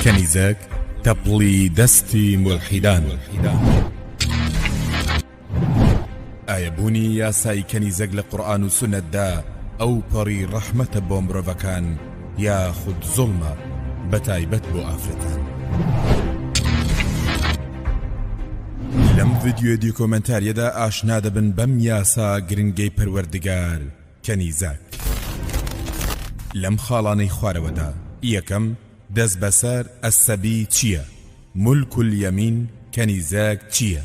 کەنیزەک تەپڵی دەستی مولحیدان ئایا بوونی یاسای کەنیزەک لە قورآن و سنەتدا ئەو پەڕی ڕەحمەتە بۆ مرۆڤەکان یا خود زڵمە بە تایبەت بۆ ئافرەتان لەم ڤیددیو دیکۆمنتاریەدا ئاشنا دەبن بەم یاسا گرنگەی پەروەردگار کەنیزەک لەم خاڵانەی خوارەوەدا، یەکەم، دەست بەسەر، السبی، چییە؟ ملک الیمین، کەنیزەک، چییە؟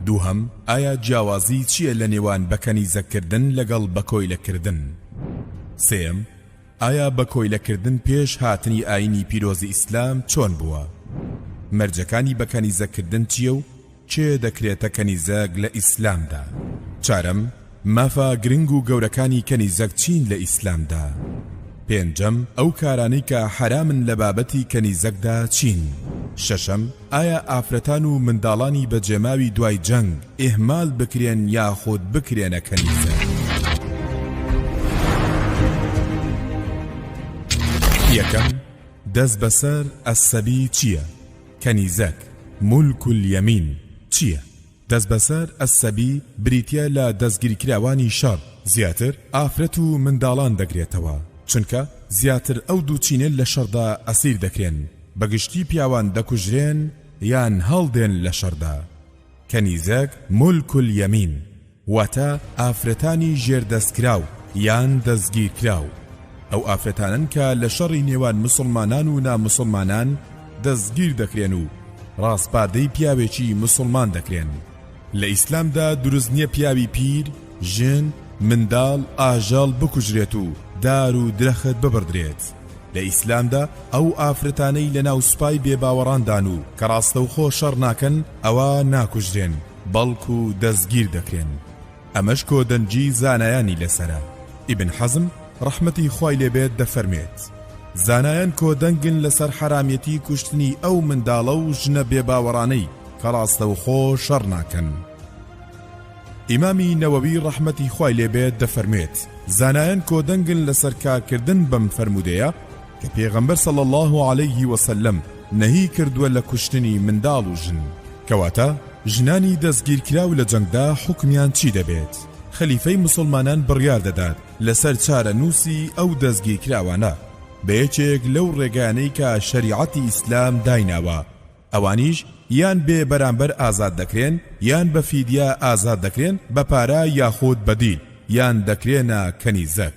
دووهەم، ئایا جیاوازی چییە لە نێوان بە کەنیزەک کردن لەگەڵ بە کۆیلە کردن؟ سێیەم، ئایا بە کۆیلە کردن پێش هاتنی ئاینی پیرۆزی ئیسلام چۆن بووە؟ مەرجەکانی بە کەنیزەک کردن چییە و کێ دەکرێتە کەنیزەک لە ئیسلامدا؟ چارەم، مافە گرنگ و گەورەکانی کەنیزەک چین لە ئیسلامدا؟ پێنجەم، ئەو کارانەی کە حەرامن لە بابەتی کەنیزەکدا چین؟ شەشەم، ئایا ئافرەتان و منداڵانی بەجێماوی دوای جەنگ ئیهمال بکرێن یاخود بکرێنە کەنیزەک؟ یەکەم، دەست بەسەر، السەبی، چییە؟ کەنیزەک، ملک الیمین، چییە؟ دەستبەسەر، السبی، بریتییە لە دەستگیرکراوانی شەڕ، زیاتر ئافرەت و منداڵان دەگرێتەوە، چونکە زیاتر ئەو دوو چینە لە شەڕدا ئەسیر دەکرێن، بە گشتی پیاوان دەکوژرێن یان هەڵدێن لە شەڕدا. کەنیزەک، ملک الیمین. واتە ئافرەتانی ژێر دەستکراو یان دەستگیرکراو، ئەو ئافرەتانەن کە لە شەڕی نێوان موسڵمانان و ناموسڵمانان دەستگیر دەکرێن و ڕاسپاردەی پیاوێکی موسڵمان دەکرێن، لە ئیسلامدا دروست نییە پیاوی پیر، ژن، منداڵ، ئاژەڵ بکوژرێت و دار و درەخت ببڕدرێت، لە ئیسلامدا ئەو ئافرەتانەی لەناو سوپای بێباوەڕاندان و کە ڕاستەوخۆ شەڕ ناکەن ئەوا ناکوژرێن، بەڵکو دەستگیر دەکرێن ئەمەش کۆدەنگی زانایانی لەسەرە ئیبن حەزم ڕەحمەتی خوای لێبێت دەفەرمێت زانایان کۆدەنگن لەسەر حەرامیەتی کوشتنی ئەو منداڵە و ژنە بێباوەڕانەی کە ڕاستەوخۆ شەڕ ناکەن ئیمامی نەوەوی ڕەحمەتی خوای لێبێت دەفەرمێت زانایان کۆدەنگن لەسەر کارکردن بەم فەرموودەیە کە پێغەمبەر صلی اللە علیه وسلم نەهی کردووە لە کوشتنی منداڵ و ژن کەواتە ژنانی دەستگیرکراو لە جەنگدا حوکمیان چی دەبێت خەلیفەی موسڵمانان بڕیار دەدات لەسەر چارەنووسی ئەو دەستگیرکراوانە بە یەکێک لەو ڕێگانەی کە شەریعەتی ئیسلام دایناوە ئەوانیش یان بێ بەرامبەر ئازاد دەکرێن یان بە فیدیا ئازاد دەکرێن بە پارە یاخود بەدیل یان دەکرێنە کەنیزەک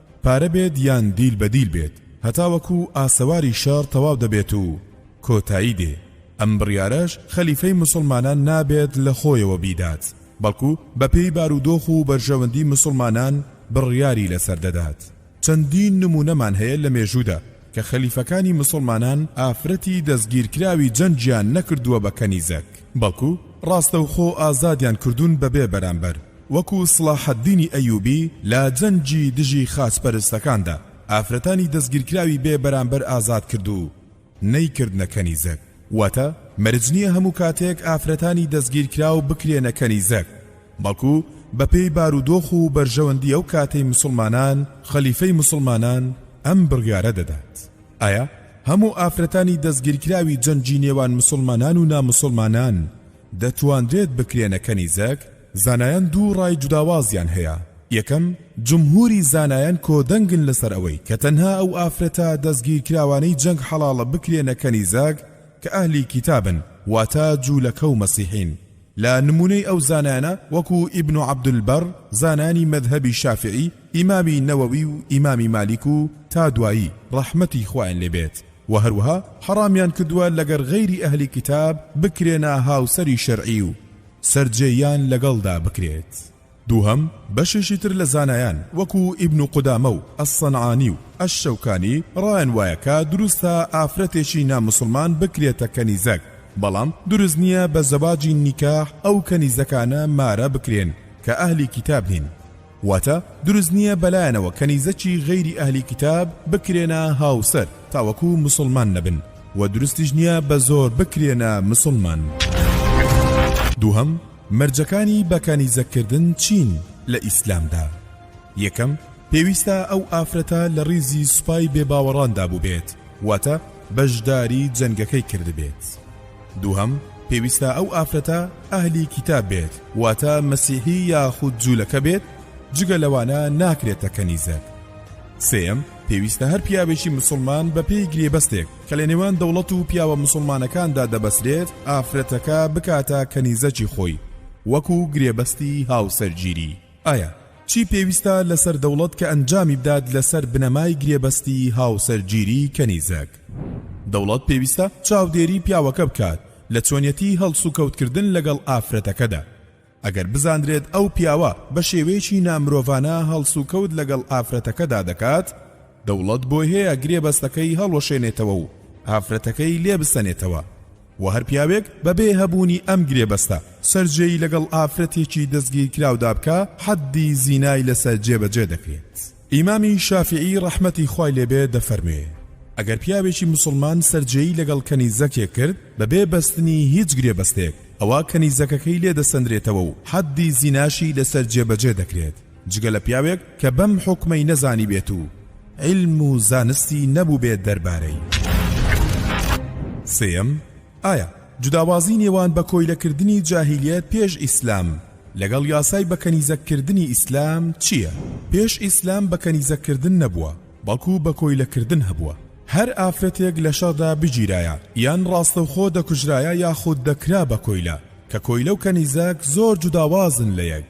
پارە بێت یان دیل بە دیل بێت هەتاوەکو ئاسەواری شەڕ تەواو دەبێت و کۆتایی دێ ئەم بڕیارەش خەلیفەی موسڵمانان نابێت لە خۆیەوە بیدات بەڵکو بە پێی بارودۆخ و بەرژەوەندی موسڵمانان بڕیاری لەسەر دەدات چەندین نمونەمان هەیە لە مێژودا کە خەلیفەکانی موسڵمانان ئافرەتی دەستگیرکراوی جەنگیان نەکردوە بە کەنیزەک بەڵکو ڕاستەوخۆ ئازادیان کردون بەبێ بەرامبەر. وەکو سڵاحەدینی ئەیوبی لە جەنگی دژی خاچ پەرستەکاندا ئافرەتانی دەستگیرکراوی بێ بەرامبەر ئازاد کرد و نەیکردنە کەنیزەک واتە مەرج نیە هەموو کاتێک ئافرەتانی دەستگیرکراو بکرێنە کەنیزەک بەڵکو بەپێی بارودۆخ و بەرژەوەندی ئەو کاتەی موسڵمانان خەلیفەی موسڵمانان ئەم بڕیارە دەدات ئایا هەموو ئافرەتانی دەستگیرکراوی جەنگی نێوان موسڵمانان و ناموسڵمانان دەتوانرێت بکرێنە کەنیزەک زانایان دوو ڕای جوداوازیان هەیە، یەکەم، جمهوری زانایان کۆدەنگن لەسەر ئەوەی کە تەنها ئەو ئافرەتە دەستگیرکراوانەی جەنگ حەڵاڵە بکرێنە کەنیزەک کە ئەهلی کیتابن واتە جولەکە و مەسیحین لە نمونەی ئەو زانایانە وەکو ئیبن عبدالبەر زانایانی مەذهەبی شافعی ئیمامی نەوەوی و ئیمامی مالیک و تا دوایی ڕەحمەتی خوایان لێ بێت وە هەروەها حەڕامیان کردووە لەگەر غەیری ئەهلی کیتاب بکرێنە هاوسەری شەرعی و سەرجێییان لەگەڵدا بکرێت. دووهەم، بەشێکی تر لە زانایان وەکو ئیبن قودامە و ئەلسەنعانی و ئەلشەوکانی ڕایان وایە کە دروستە ئافرەتێکی ناموسڵمان بکرێتە کەنیزەک، بەڵام دروست نییە بە زەواجی نیکاح ئەو کەنیزەکانە مارە بکرێن کە ئەهلی کیتاب نین. واتە دروست نیە بەلایانەوە کەنیزەکی غەیری ئەهلی کیتاب بکرێنە هاوسەر تاوەکو موسڵمان نەبن وە دروستیش نیە بە زۆر بکرێنە موسڵمان دووهەم مەرجەکانی بە کەنیزەک کردن چین لە ئیسلامدا یەکەم پێویستە ئەو ئافرەتە لە ڕیزی سوپای بێباوەڕاندا بووبێت واتە بەژداری جەنگەکەی کردبێت. دووهەم، پێویستە ئەو ئافرەتە ئەهلی کیتاب بێت، واتە مەسیحی یاخود جوولەکە بێت، جگە لەوانە ناکرێتە کەنیزەک. سێیەم، پێویستە هەر پیاوێکی موسڵمان بەپێی گرێبەستێک کە لە نێوان دەوڵەت و پیاوە موسڵمانەکاندا دەبەسرێت، ئافرەتەکە بکاتە کەنیزەکی خۆی، وەکو گرێبەستی هاوسەرگیری. ئایا چی پێویستە لەسەر دەوڵەت کە ئەنجامی بدات لەسەر بنەمای گرێبەستی هاوسەرگیری کەنیزەک؟ دەوڵەت پێویستە چاودێری پیاوەکە بکات لە چۆنیەتی هەڵسوکەوتکردن لەگەڵ ئافرەتەکەدا. ئەگەر بزاندرێت ئەو پیاوە بە شێوەیەکی نامرۆڤانە هەڵسوکەوت لەگەڵ ئافرەتەکەدا دەکات، دەوڵەت بۆیهەیە گرێبەستەکەی هەڵوەشێنێتەوە و ئافرەتەکەی لێ بسەنێتەوە و هەر پیاوێک بەبێ هەبوونی ئەم گرێبەستە سەرجێی لەگەڵ ئافرەتێکی دەستگیرکراودا بکا حەددی زینای لەسەر جێبەجێ دەکرێت ئیمامی شافیعی ڕەحمەتی خوای لێبێ دەفەرموێ ئەگەر پیاوێکی موسڵمان سەرجێی لەگەڵ کەنیزەکێک کرد بەبێ بەستنی هیچ گرێبەستێک ئەوا کەنیزەکەکەی لێ دەسەندرێتەوە و حەددی زیناشی لەسەر جێبەجێ دەکرێت جگە لە پیاوێک کە بەم حوکمەی نەزانیبێت و عیلم و زانستی نەبووبێت دەربارەی. سێیەم، ئایا جوداوازی نێوان بە کۆیلەکردنی جاهیلیەت پێش ئیسلام لەگەڵ یاسای بە کەنیزەک کردنی ئیسلام چییە؟ پێش ئیسلام بە کەنیزەک کردن نەبووە، بەڵکو بە کۆیلە کردن هەبووە. هەر ئافرەتێک لە شەڕدا بگیرایە یان ڕاستەوخۆ دەکوژرایە یاخود دەکرا بە کۆیلە، کە کۆیلە و کەنیزەک زۆر جوداوازن لە یەک.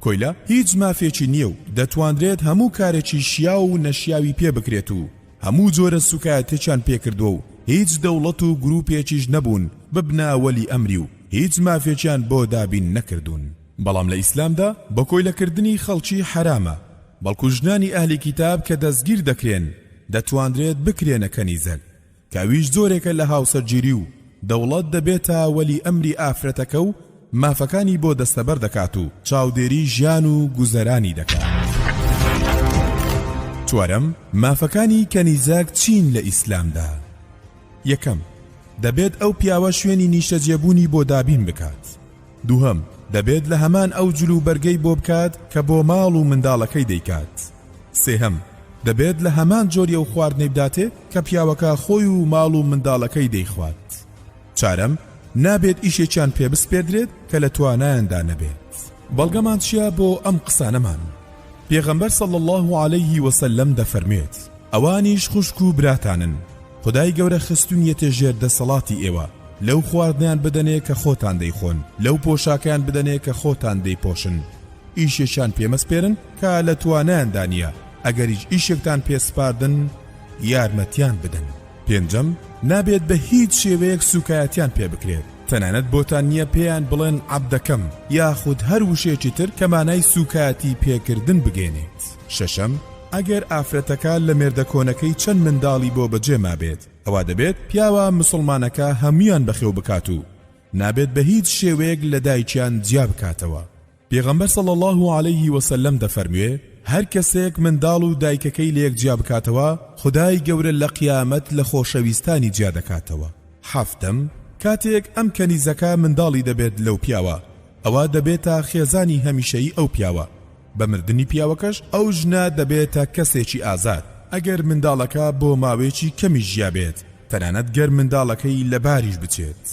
کۆیلە هیچ مافێکی نییە و دەتوانرێت هەموو کارێکی شیاو و نەشیاوی پێ بکرێت و هەموو جۆرە سوکایەتێکیان پێکردووە و هیچ دەوڵەت و گروپێکیش نەبوون ببنە وەلی ئەمری و هیچ مافێکیان بۆ دابین نەکردوون بەڵام لە ئیسلامدا بە کۆیلەکردنی خەڵکی حەرامە بەڵکو ژنانی ئەهلی کیتاب کە دەستگیر دەکرێن دەتوانرێت بکرێنە کەنیزەک کە ئەویش جۆرێکە لە هاوسەرگیری و دەوڵەت دەبێتە وەلی ئەمری ئافرەتەکە و مافەکانی بۆ دەستەبەر دەکات و چاودێری ژیان و گوزەرانی دەکات. چوارەم، مافەکانی کەنیزەک چین لە ئیسلامدا؟ یەکەم، دەبێت ئەو پیاوە شوێنی نیشتەجێبوونی بۆ دابین بکات، دووهەم، دەبێت لە هەمان ئەو جل و بەرگەی بۆ بکات کە بۆ ماڵ و منداڵەکەی دەیکات. سێهەم، دەبێت لە هەمان جۆری ئەو خواردنەی بداتێ کە پیاوەکە خۆی و ماڵ و منداڵەکەی دەیخوات. چارەم، نابێت ئیشێکیان پێ بسپێردرێت کە لە توانایاندا نەبێت. بەڵگەمان چییە بۆ ئەم قسانەمان؟ پێغەمبەر صلی اللە علیه وسلم دەفەرموێت، ئەوانیش خوشک و براتانن خودای گەورە خستونیەتێ ژێر دەسەڵاتی ئێوە لەو خواردنەیان بدەنێ کە خۆتان دەیخۆن لەو پۆشاکەیان بدەنێ کە خۆتان دەیپۆشن ئیشێکیان پێمەسپێرن کە لە توانایاندا نییە ئەگەریش ئیشێکتان پێسپاردن یارمەتیان بدەن پێنجەم نابێت بە هیچ شێوەیەک سوکایەتیان پێ بکرێت تەنانەت بۆتان نییە پێیان بڵێن عەبدەکەم یاخود هەر وشێکی تر کە مانای سوکایەتی پێکردن بگەێنێت شەشەم، ئەگەر ئافرەتەکە لە مێردە کۆنەکەی چەند منداڵی بۆ بەجێ مابێت، ئەوا دەبێت پیاوە مسوڵمانەکە هەموویان بەخێو بکات و نابێت بە هیچ شێوەیەک لە دایکیان جیا بکاتەوە، پێغەمبەر صلی اللە علیه وسلم دەفەرموێ، هەر کەسێک منداڵ و دایکەکەی لە یەک جیا بکاتەوە، خودای گەورە لە قیامەت لە خۆشەویستانی جیا دەکاتەوە. حەفتەم، کاتێک ئەم کەنیزەکە منداڵی دەبێت لەو پیاوە، ئەوا دەبێتە خێزانی هەمیشەیی ئەو پیاوە، بە مردنی پیاوەکەش ئەو ژنە دەبێتە کەسێکی ئازاد ئەگەر منداڵەکە بۆ ماوەیەکی کەمیش ژیابێت تەنانەت گەر منداڵەکەی لەباریش بچێت.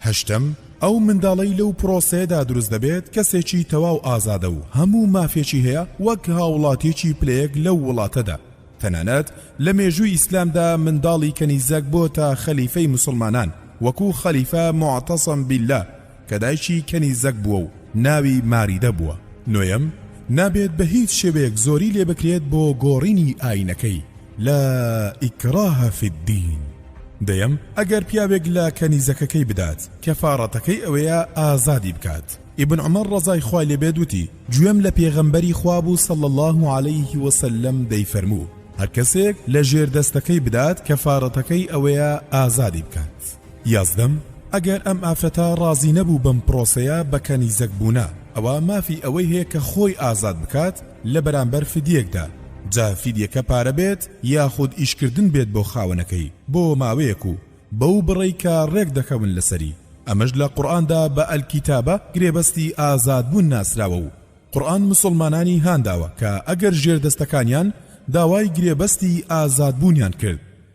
هەشتەم، ئەو منداڵەی لەو پرۆسەیەدا دروست دەبێت کەسێکی تەواو ئازادە و هەموو مافێکی هەیە وەک هاوڵاتیەکی پلەیەک لەو وڵاتەدا، تەنانەت لە مێژووی ئیسلامدا منداڵی کەنیزەک بۆتە خەلیفەی موسڵمانان وەکو خەلیفە موعتەسم بیللە، کە دایکی کەنیزەک بووە و ناوی ماریدە بووە، نۆیەم، نابێت بە هیچ شێوەیەک زۆری لێ بکرێت بۆ گۆڕینی ئایینەکەی، لا ئیکراە فی الدین، دەیەم، ئەگەر پیاوێک لە کەنیزەکەکەی بدات، کەفاڕەتەکەی ئەوەیە ئازادی بکات، ئیبن عومەر ڕەزای خوای لێ بێت وتی، گوێم لە پێغەمبەری خوا بوو صلی اللە علیه وسلم دەیفەرموو، هەر کەسێک لە ژێر دەستەکەی بدات کەفاڕەتەکەی ئەوەیە ئازادی بکات. یازدەم، ئەگەر ئەم ئافرەتە ڕازی نەبوو بەم پرۆسەیە بە کەنیزەک بوونە، ئەوا مافی ئەوەی هەیە کە خۆی ئازاد بکات لە بەرامبەر فدیەکدا، جا فدیەکە پارە بێت یاخود ئیشکردن بێت بۆ خاوەنەکەی بۆ ماوەیەک و بەو بڕەی کە ڕێک دەکەون لەسەری، ئەمەش لە قورئاندا بە الکتابە گرێبەستی ئازادبوون ناسراوە و قورئان موسڵمانانی هانداوە کە ئەگەر ژێردەستەکانیان داوای گرێبەستی ئازادبوونیان کرد،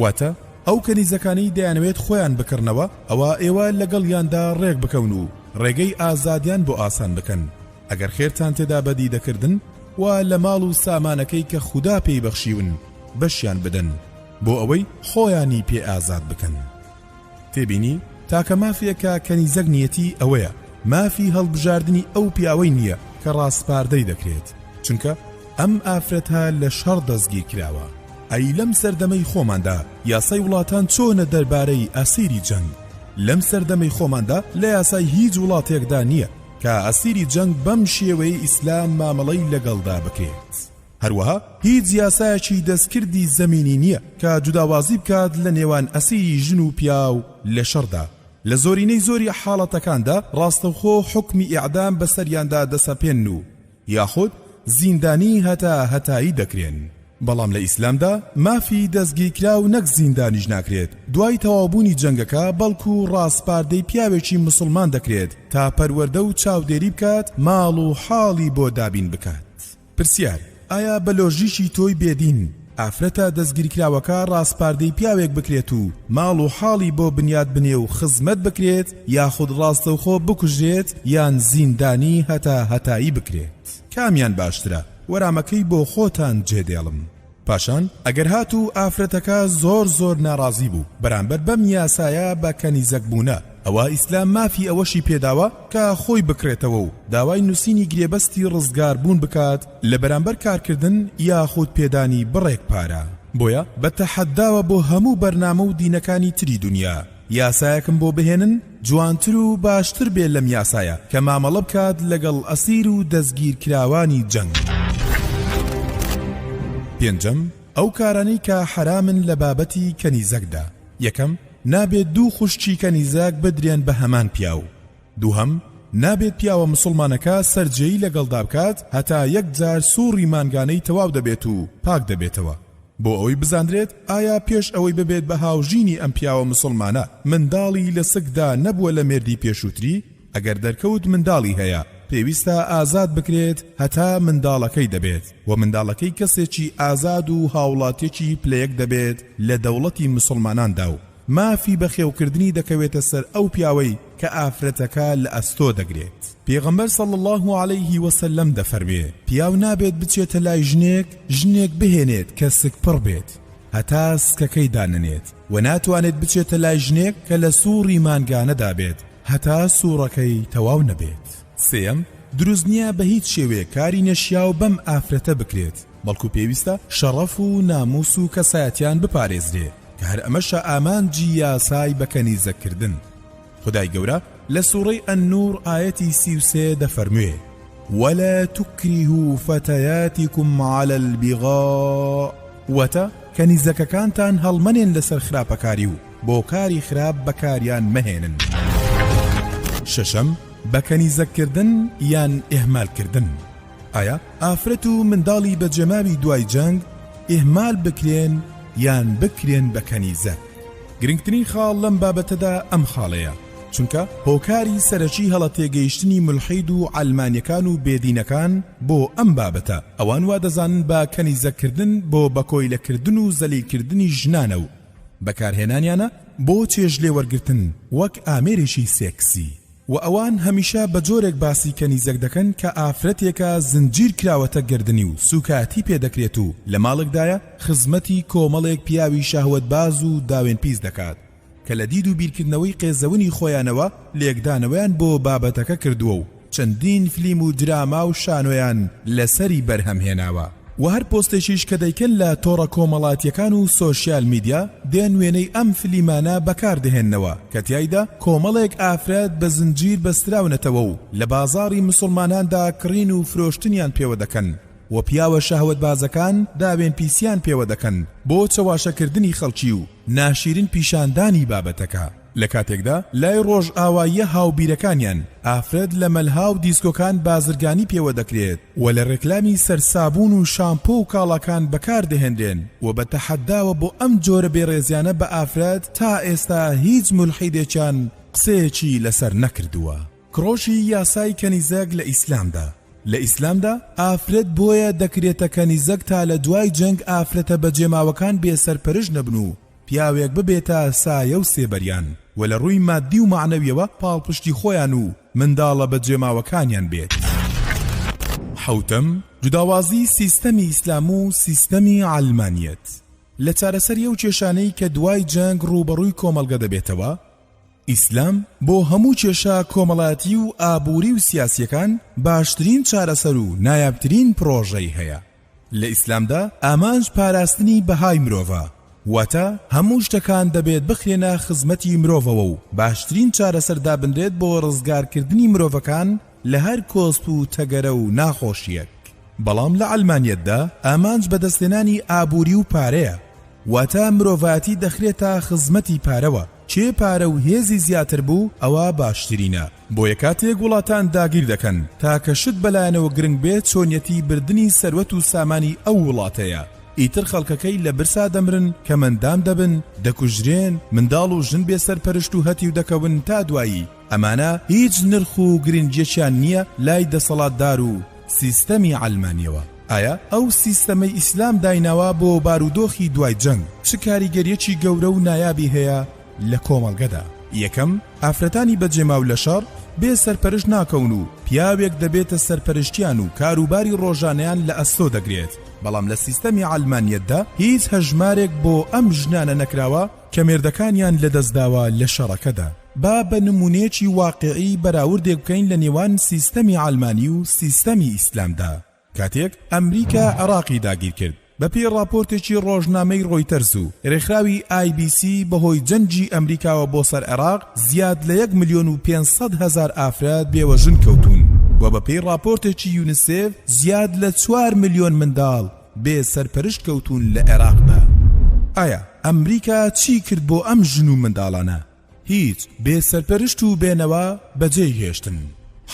واتە، ئەو کەنیزەکانەی دەیانەوێت خۆیان بکڕنەوە، ئەوا ئێوە لەگەڵیاندا ڕێک بکەون و ڕێگەی ئازادیان بۆ ئاسان بکەن، ئەگەر خێرتان تێدا بەدی دەکردن، وا لە ماڵ و سامانەکەی کە خودا پێی بەخشیون بەشیان بدەن، بۆ ئەوەی خۆیانی پێ ئازاد بکەن. تێبینی، تاکە مافێ کە کەنیزەک نیەتی ئەوەیە مافی هەڵبژاردنی ئەو پیاوەی نیە کە ڕاسپاردەی دەکرێت چونکە ئەم ئافرەتە لە شەڕ دەستگیر کراوە. ئەی لەم سەردەمەی خۆماندا یاسای وڵاتان چۆنە دەربارەی ئەسیری جەنگ؟ لەم سەردەمەی خۆماندا لە یاسای هیچ وڵاتێکدا نیە کە ئەسیری جەنگ بەم شێوەیەی ئیسلام مامەڵەی لەگەڵدا بکرێت. هەروەها هیچ یاسایەکی دەستکردی زەمینی نییە کە جوداوازی بکات لە نێوان ئەسیری ژن و پیاو لە شەڕدا، لە زۆرینەی زۆری حاڵەتەکاندا ڕاستەوخۆ حوکمی ئێعدام بەسەریاندا دەسەپێنن و یاخود زیندانی هەتا هەتایی دەکرێن، بەڵام لە ئیسلامدا مافی دەستگیرکراو نەک زیندانیش ناکرێت دوای تەواوبوونی جەنگەکە بەڵکو ڕاسپاردەی پیاوێکی مسوڵمان دەکرێت تا پەروەردە و چاودێری بکات ماڵ و حاڵی بۆ دابین بکات. پرسیار، ئایا بە لۆژیکی تۆی بێدین ئافرەتە دەستگیرکراوەکە ڕاسپاردەی پیاوێک بکرێت و ماڵ و حاڵی بۆ بنیات بنێ و خزمەت بکرێت یاخود ڕاستەوخۆ بکوژرێت یان زیندانی هەتا هەتایی بکرێت کامیان باشترە؟ وەرامەکەی بۆ خۆتان جێدێڵم. پاشان ئەگەر هاتوو ئافرەتەکە زۆر زۆر ناڕازی بوو بەرامبەر بەم یاسایە بە کەنیزەک بوونە ئەوا ئیسلام مافی ئەوەشی پێداوە کە خۆی بکڕێتەوە و داوای نووسینی گرێبەستی ڕزگار بوون بکات لە بەرامبەر کارکردن یاخود پێدانی بڕێک پارە بۆیە بە تەحەداوە بۆ هەموو بەرنامە و دینەکانی تری دونیا یاسایەکم بۆ بهێنن جوانتر و باشتر بێ لەم یاسایە کە مامەڵە بکات لەگەڵ ئەسیر و دەستگیرکراوانی جەنگ. پێنجەم، ئەو کارانەی کە حەرامن لە بابەتی کەنیزەکدا، یەکەم، نابێت دوو خوشکی کەنیزەک بدرێن بە هەمان پیاو، دووهەم، نابێت پیاوە مسوڵمانەکە سەرجێی لەگەڵدا بکات هەتا یەکجار سوڕی مانگانەی تەواو دەبێت و پاک دەبێتەوە، بۆ ئەوەی بزاندرێت ئایا پێش ئەوەی ببێت بە هاوژینی ئەم پیاوە مسوڵمانە منداڵی لە سکدا نەبووە لە مێردی پێشووتری ئەگەر دەرکەوت منداڵی هەیە پێویستە ئازاد بکرێت هەتا منداڵەکەی دەبێت و منداڵەکەی کەسێکی ئازاد و هاوڵاتیەکی پلە یەک دەبێت لە دەوڵەتی مسوڵماناندا و مافی بەخێوکردنی دەکەوێتە سەر ئەو پیاوەی کە ئافرەتەکە لە ئەستۆ دەگرێت پێغەمبەر صلی اللە علیه وسلم دەفەرموێ پیاو نابێت بچێتە لای ژنێک ژنێک بهێنێت کە سکپڕ بێت هەتا سکەکەی داننێت و ناتوانێت بچێتە لای ژنێک کە لە سوڕی مانگانەدا بێت هەتا سوڕەکەی تەواو نەبێت سێم دروست نییە بە هیچ شێوەیە کاری نەشیاو بەم ئافرەتە بکرێت بەڵکو پێویستە شەڕەف و ناموس و کەسایەتیان بپارێزرێ کە هەر ئەمەشە ئامانجی یاسای بە کەنیزەک کردن خودای گەورە لە سوڕەی النور ئایەتی سی و سێ دەفەرموێ ولا تکرهوا فتیاتکم علی البغاء واتە کەنیزەکەکانتان هەڵمەنێن لەسەر خراپەکاری و بۆ کاری خراپ بەکاریان مەهێنن شەشەم بە کەنیزەککردن یان ئیهمالکردن ئایا ئافرەت و منداڵی بەجێماوی دوای جەنگ ئیهمال بکرێن یان بکرێن بە کەنیزە؟ گرنگترین خاڵ لەم بابەتەدا ئەم خاڵەیە، چونکە هۆکاری سەرەکی هەڵە تێگەیشتنی مولحید و عەلمانیەکان و بێدینەکان بۆ ئەم بابەتە، ئەوان وا دەزانن بە کەنیزە کردن بۆ بە کۆیلە کردن و زەلیل کردنی ژنانە و بەکارهێنانیانە بۆ چێژ لێوەرگرتن وەک ئامێرێکی سێکسی. وە ئەوان هەمیشە بە جۆرێک باسی کەنیزەک دەکەن کە ئافرەتێکە زنجیر کراوەتە گەردنی و سوکایەتی پێ دەکرێت و لە ماڵێکدایە خزمەتی کۆمەڵێک پیاوی شەهوەتباز و داوێن پیس دەکات کە لە دید و بیرکردنەوەی قێزەونی خۆیانەوە لێکدانەوەیان بۆ بابەتەکە کردووە و چەندین فلیم و دراما و شانۆیان لەسەری بەرهەم هێناوە. وە هەر پۆستێکیش کە دەیکەن لە تۆڕە کۆمەڵاتیەکان و سۆشیال میدیا دێن وێنەی ئەم فلیمانە بەکار دەهێننەوە کە تیایدا کۆمەڵێک ئافرەت بە زنجیر بەستراونەتەوە و لە بازاڕی موسڵماناندا کڕین و فرۆشتنیان پێوە دەکەن و پیاوە شەهوەتبازەکان داوێن پیسیان پێوە دەکەن بۆ چەواشەکردنی خەڵکی و ناشیرین پیشاندانی بابەتەکە. لە کاتێکدا لای ڕۆژئاواییە هاوبیرەکانیان ئافرەت لە مەلها و دیسکۆکان بازرگانی پێوە دەکرێت و لە ڕێکلامی سەر سابوون و شامپۆ و کاڵاکان بەکار دەهێنرێن و بە تەحەداوە بۆ ئەم جۆرە بێڕێزیانە بە ئافرەت تا ئێستا هیچ مولحیدێکیان قسەیەکی لەسەر نەکردووە. کڕۆکی یاسای کەنیزەک لە ئیسلامدا لە ئیسلامدا ئافرەت بۆیە دەکرێتە کەنیزەک تا لە دوای جەنگ ئافرەتە بەجێماوەکان بێ سەرپەرش نەبن و، پیاوێک ببێتە سایە و سێبەریان و لە ڕووی ماددی و مەعنەویەوە پاڵپشتی خۆیان و منداڵە بەجێماوەکانیان بێت. حەوتەم، جوداوازی سیستەمی ئیسلام و سیستەمی عەلمانیەت لە چارەسەری ئەو کێشانەی کە دوای جەنگ ڕووبەڕووی کۆمەڵگە دەبێتەوە، ئیسلام بۆ هەموو کێشە کۆمەڵاتی و ئابووری و سیاسیەکان باشترین چارەسەر و نایابترین پڕۆژەی هەیە، لە ئیسلامدا ئامانج پاراستنی بەهای مرۆڤە، واتە هەموو شتەکان دەبێت بخرێنە خزمەتی مرۆڤەوە و باشترین چارەسەر دابنرێت بۆ ڕزگارکردنی مرۆڤەکان لە هەر کۆسپ و تەگەرە و ناخۆشییەک. بەڵام لە عەلمانیەتدا ئامانج بەدەستهێنانی ئابووری و پارەیە، واتە مرۆڤایەتی دەخرێتە خزمەتی پارەوە، کێ پارە و هێزی زیاتر بوو ئەوە باشترینە. بۆیە کاتێک وڵاتان داگیر دەکەن تاکە شت بەلایانەوە گرنگ بێت چۆنیەتی بردنی سەروەت و سامانی ئەو وڵاتەیە ئیتر خەڵکەکەی لە برسا دەمرن کەمەندان دەبن دەکوژرێن منداڵ و ژن بێ سەرپەرشت و هەتیو دەکەون تا دوایی ئەمانە هیچ نرخ و گرنگیەکیان نییە لای دەسەڵاتدار و سیستەمی عەلمانیەوە ئایا ئەو سیستەمەی ئیسلام دایناوە بۆ بارودۆخی دوای جەنگ چ کاریگەریەکی گەورە و نایابی هەیە لە کۆمەڵگەدا یەکەم ئافرەتانی بە جێماو لە شەڕ بێ سەرپەرشت ناکەون و پیاوێک دەبێتە سەرپەرشتیان و کاروباری ڕۆژانەیان لە ئەستۆ دەگرێت بەڵام لە سیستەمی عەلمانیەتدا هیچ هەژمارێک بۆ ئەم ژنانە نەکراوە کە مێردەکانیان لە دەستداوە لە شەڕەکەدا با بە نمونەیەکی واقعی بەراوردێک بکەین لە نێوان سیستەمی عەلمانی و سیستەمی ئیسلامدا کاتێک ئەمریکا عێراقی داگیرکرد، بەپێی ڕاپۆرتێکی ڕۆژنامەی ڕۆیتەرز و رێکخراوی ئای بی سی بەهۆی جەنگی ئەمریکاوە بۆ سەر عێراق زیاد لە یەک ملیۆن و پێنج سەد هەزار ئافرەت بێوەژن کەوتوون و بەپێی ڕاپۆرتێکی یونیسێف زیاد لە چوار ملیۆن منداڵ بێ سەرپەرشت کەوتوون لە عێراقدا. ئایا ئەمریکا چی کرد بۆ ئەم ژن و منداڵانە؟ هیچ بێ سەرپەرشت و بێ نەوا بەجێی هێشتن.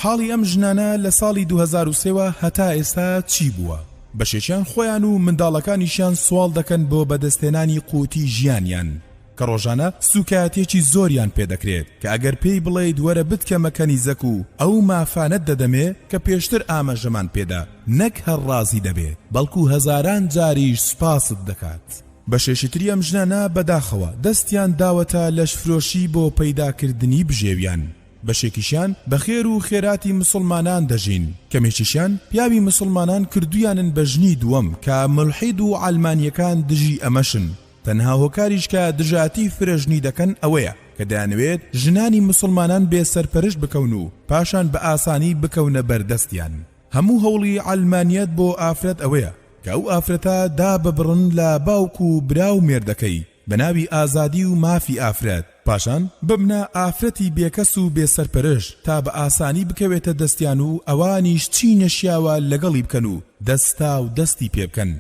حاڵی ئەم ژنانە لە ساڵی دوو هەزار و سێ وە هەتا ئێستا چی بووە؟ بەشێکیان خۆیان و منداڵەکانیشیان سواڵ دەکەن بۆ بەدەستهێنانی قوتی ژیانیان کە ڕۆژانە سوکایەتیەکی زۆریان پێ دەکرێت کە ئەگەر پێی بڵێیت وەرە بتکەمە کەنیزەک و ئەو مافانەت دەدەمێ کە پێشتر ئامەژەمان پێدا نەک هەر ڕازی دەبێت بەڵکو هەزاران جاریش سوپاست دەکات. بەشێکی تری ئەم ژنانە بەداخەوە دەستیان داوەتە لەشفرۆشی بۆ پەیداکردنی بژێویان، بەشێکیشیان بە خێر و خێراتی موسڵمانان دەژین، کەمێکیشیان پیاوی موسڵمانان کردوویانن بە ژنی دووەم کە مولحید و عەلمانییەکان دژی ئەمەشن، تەنها هۆکاریش کە دژایەتی فرەژنی دەکەن ئەوەیە کە دەیانەوێت ژنانی موسڵمانان بێ سەرپەرشت بکەون و پاشان بە ئاسانی بکەونە بەردەستیان. هەموو هەوڵی عەلمانیەت بۆ ئافرەت ئەوەیە کە ئەو ئافرەتە داببڕن لە باوک و برا و مێردەکەی بە ناوی ئازادی و مافی ئافرەت پاشان ببنە ئافرەتی بێکەس و بێ سەرپەرش تا بە ئاسانی بکەوێتە دەستیان و ئەوانیش چی نەشیاوە لەگەڵی بکەن و دەستاو دەستی پێ بکەن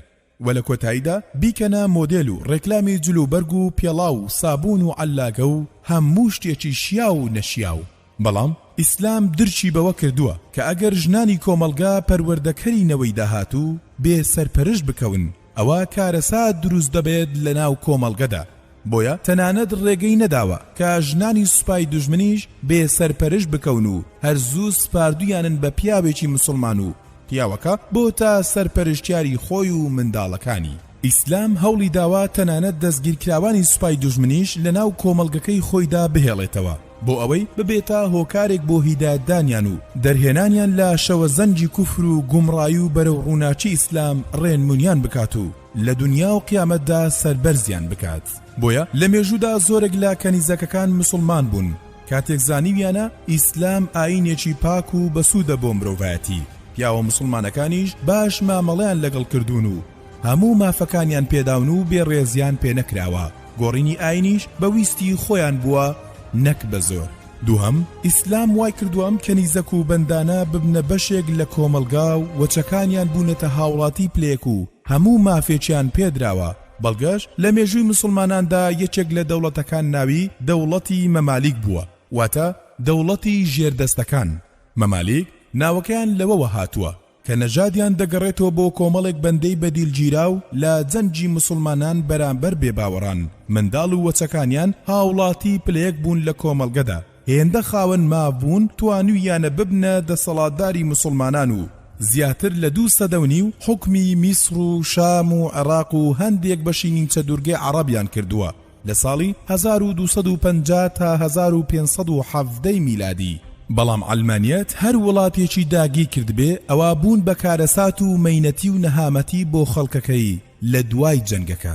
وە لە کۆتاییدا بیکەنە مۆدێل و ڕێکلامی جل و بەرگ و پێڵاو و سابوون و عەللاکە و هەموو شتێکی شیاو و نەشیاو بەڵام ئیسلام درکی بەوە کردووە کە ئەگەر ژنانی کۆمەڵگا پەروەردەکەری نەوەی داهاتوو بێ سەرپەرشت بکەون ئەوا کارەسات دروست دەبێت لەناو کۆمەڵگەدا بۆیە تەنانەت ڕێگەی نەداوە کە ژنانی سوپای دوژمنیش بێ سەرپەرش بکەون و هەر زوو سپاردویانن بە پیاوێکی مسوڵمان و پیاوەکە بۆ تا سەرپەرشتیاری خۆی و منداڵەکانی. ئیسلام هەوڵی داوە تەنانەت دەستگیرکراوانی سوپای دوژمنیش لە ناو کۆمەڵگەکەی خۆیدا بهێڵێتەوە بۆ ئەوەی ببێتە هۆکارێک بۆ هیدایەتدانیان و دەرهێنانیان لە شەوەزەنگی کوفر و گومڕایی و بەرەو ڕووناکی ئیسلام ڕێنمونیان بکات و لە دونیا و قیامەتدا سەربەرزیان بکات بۆیە لە مێژوودا زۆرێک لە کەنیزەکەکان مسوڵمان بوون کاتێک زانیویانە ئیسلام ئاینێکی پاک و بەسوودە بۆ مرۆڤایەتی پیاوە مسوڵمانەکانیش باش مامەڵەیان لەگەڵ کردوون و هەموو مافەکانیان پێداون و بێڕێزیان پێ نەکراوە گۆڕینی ئاینیش بە ویستی خۆیان بووە نەک بە زۆر دووهەم، ئیسلام وای کردووە ئەم کەنیزەک و بەندانە ببنە بەشێک لە کۆمەڵگا و وەچەکانیان بوونەتە هاوڵاتی پلەیەک و هەموو مافێکیان پێ دراوە، بەڵگەش، لە مێژووی موسڵماناندا یەکێک لە دەوڵەتەکان ناوی، دەوڵەتی مەمالیک، بووە، واتە، دەوڵەتی ژێردەستەکان، مەمالیک، ناوەکەیان لەوەوە هاتووە. کە نەژادیان دەگەڕێتەوە بۆ کۆمەڵێک بەندەی بەدیلگیراو لە جەنگی موسڵمانان بەرامبەر بێباوەڕان، منداڵ و وەچەکانیان هاوڵاتی پلەیەک بوون لە کۆمەڵگەدا، هێندە خاوەن ماف بوون توانوویانە ببنە دەسەڵاتداری موسڵمانان و زیاتر لە دوو سەدە و نیو حوکمی میسر و شام و عێراق و هەندێک بەشی نیمچە دوورگەی عەڕەبیان کردووە. لە ساڵی هەزار و دوو سەد و پەنجا تا هەزار و پێنج سەد و حەڤدە ی میلادی، بەڵام عەلمانیەت هەر وڵاتێکی داگیر کردبێ ئەوا بوون بە کارەسات و مەینەتی و نەهامەتی بۆ خەڵکەکەی لە دوای جەنگەکە.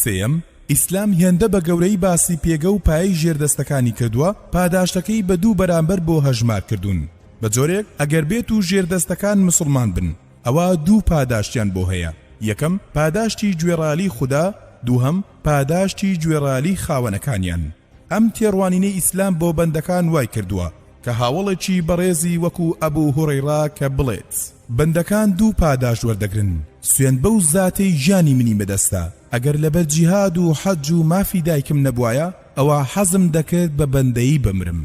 سێیەم، ئیسلام هێندە بە گەورەیی باسی پێگە و پایەی ژێردەستەکانی کردووە پاداشتەکەی بە دوو بەرامبەر بۆ هەژمار کردوون بە جۆرێک ئەگەر بێتوو ژێردەستەکان مسوڵمان بن ئەوا دوو پاداشتیان بۆ هەیە، یەکەم، پاداشتی گوێڕالی خودا، دووهەم، پاداشتی گوێڕالی خاوەنەکانیان. ئەم تێڕوانینەی ئیسلام بۆ بەندەکان وای کردووە کە هاوەڵێکی بەڕێزی وەکو ئەبو هورەیڕا کە بڵێت، بەندەکان دوو پاداشت وەردەگرن، سوێند بەو زاتەی گیانی منی بەدەستە، ئەگەر لەبەر جیهاد و حەج و مافی دایکم نەبوایە، ئەوا حەزم دەکرد بە بەندەیی بمرم.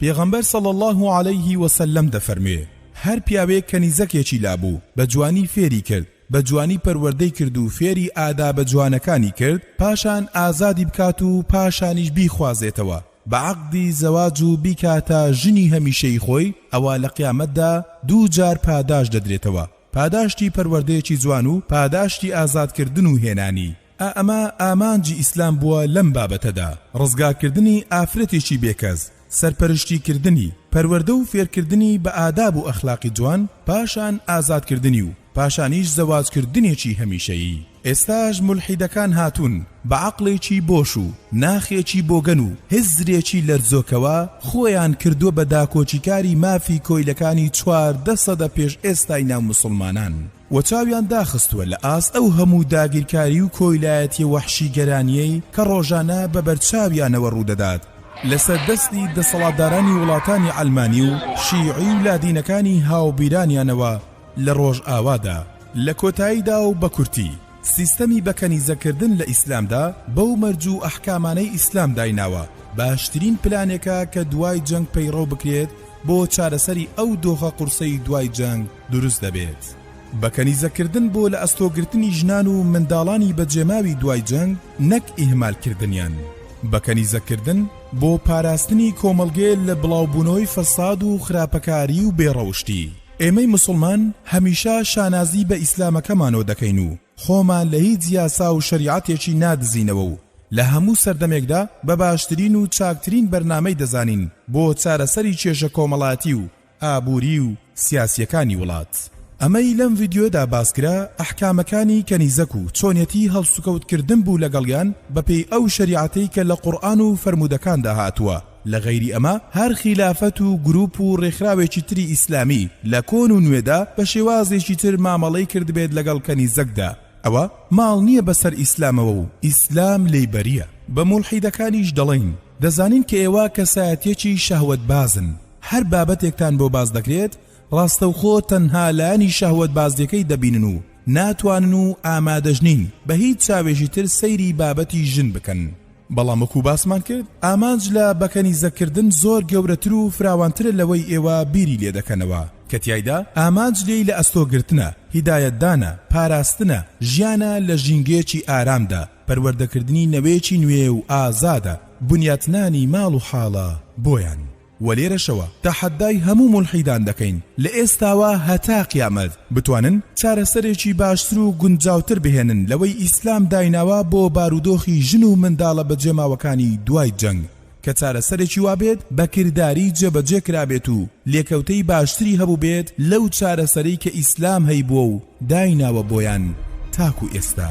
پێغەمبەر صلی اللە علیه وسلم دەفەرموێ، هەر پیاوێک کەنیزەکێکی لابوو بەجوانی فێری کرد، بەجوانی پەروەردەی کرد و فێری ئادابە جوانەکانی کرد، پاشان ئازادی بکات و پاشانیش بیخوازێتەوە بە عەقدی زەواج و بیکاتە ژنی هەمیشەیی خۆی، ئەوا لە قیامەتدا دوو جار پاداشت دەدرێتەوە، پاداشتی پەروەردەیەکی جوان و پاداشتی ئازادکردن و هێنانی. ئا ئەمە ئامانجی ئیسلام بووە لەم بابەتەدا، ڕزگارکردنی ئافرەتێکی بێکەس، سەرپەرشتیکردنی، پەروەردە و فێرکردنی بە ئاداب و ئەخلاقی جوان، پاشان ئازادکردنی و پاشانیش زەواجکردنێکی هەمیشەیی. ئێستاش مولحیدەکان هاتوون بە عەقڵێکی بۆش و ناخێکی بۆگەن و هزرێکی لەرزۆکەوە خۆیان کردووە بە داکۆکیکاری مافی کۆیلەکانی چواردە سەدە پێش ئێستای ناو موسڵمانان. و چاویان داخستووە لە ئاست ئەو هەموو داگیرکاری و کۆیلایەتیە وەحشیگەرانیەی کە ڕۆژانە بە بەرچاویانەوە ڕوودەدات لەسەر دەستی دەسەڵاتدارانی وڵاتانی عەلمانی و شیعی و لادینەکانی هاوبیرانیانەوە لە ڕۆژئاوادا. لە کۆتاییدا و بە کورتی، سیستەمی بە کەنیزە کردن لە ئیسلامدا بەو مەرج و ئەحکامانەی ئیسلام دایناوە، باشترین پلانێکە کە دوای جەنگ پەیڕەو بکرێت بۆ چارەسەری ئەو دۆخە قورسەی دوای جەنگ، دروست دەبێت بە کەنیزەک کردن بۆ لە ئەستۆ گرتنی ژنان و منداڵانی بە جێماوی دوای جەنگ نەک ئیهمال کردنیان بە کەنیزەک کردن بۆ پاراستنی کۆمەڵگێ لە بڵاو بونەوەی فەساد و خراپەکاری و بێ ڕەوشتی ئێمەی موسڵمان هەمیشە شانازی بە ئیسلامەکەمانۆ دەکەین و خۆمان لە هیچ یاسا و شەریعەتێکی نادزینەوە و لە هەموو سەردەمێکدا بە باشترین و چاکترین بەرنامەی دەزانین بۆ چارەسەری کێشە کۆمەڵاتی و ئابوری و سیاسیەکانی وڵات. ئەمەی لەم ڤیدیۆدا باسکرا ئەحکامەکانی کەنیزەک و چۆنیەتی هەڵسوکەوت کردن بوو لەگەڵیان بەپێی ئەو شەریعەتەی کە لە قورئان و فەرموودەکاندا هاتووە لە غەیری ئەمە هەر خیلافەت و گروپ و ڕێکخراوێکی تری ئیسلامی لە کۆن و نوێدا بە شێوازێکی تر مامەڵەی کردبێت لەگەڵ کەنیزەکدا ئەوە ماڵ نییە بەسەر ئیسلامەوە و ئیسلام لێی بەرییە بە مولحیدەکانیش دەڵێین دەزانین کە ئێوە کەسایەتیەکی شەهوەتبازن هەر بابەتێکتان بۆ باس دەکرێت ڕاستەوخۆ تەنها لایەنی شەهوەتبازیەکەی دەبینن و ناتوانن و ئامادەش نین بە هیچ چاوێکی تر سەیری بابەتی ژن بکەن بەڵام وەکو باسمان کرد ئامانج لە بەکەنیزەکردن زۆر گەورەتر و فراوانترە لەوەی ئێوە بیری لێ دەکەنەوە کە تیایدا ئامانج لێی لە ئەستۆگرتنە هیدایەتدانە پاراستنە ژیانە لە ژینگەیەکی ئارامدا پەروەردەکردنی نەوەیەکی نوێ و ئازادە، بنیاتنانی ماڵ و حاڵە بۆیان. وە لێرەشەوە تەحەدای هەموو مولحیدان دەکەین لە ئێستاوە هەتا قیامەت بتوانن چارەسەرێکی باشتر و گونجاوتر بهێنن لەوەی ئیسلام دایناوە بۆ بارودۆخی ژن و منداڵە بەجێماوەکانی دوای جەنگ کە چارەسەرێکی وابێت بە کرداری جێبەجێ کرابێت و لێکەوتەی باشتری هەبووبێت لەو چارەسەرەی کە ئیسلام هەیبووە و دایناوە بۆیان تاکو ئێستا.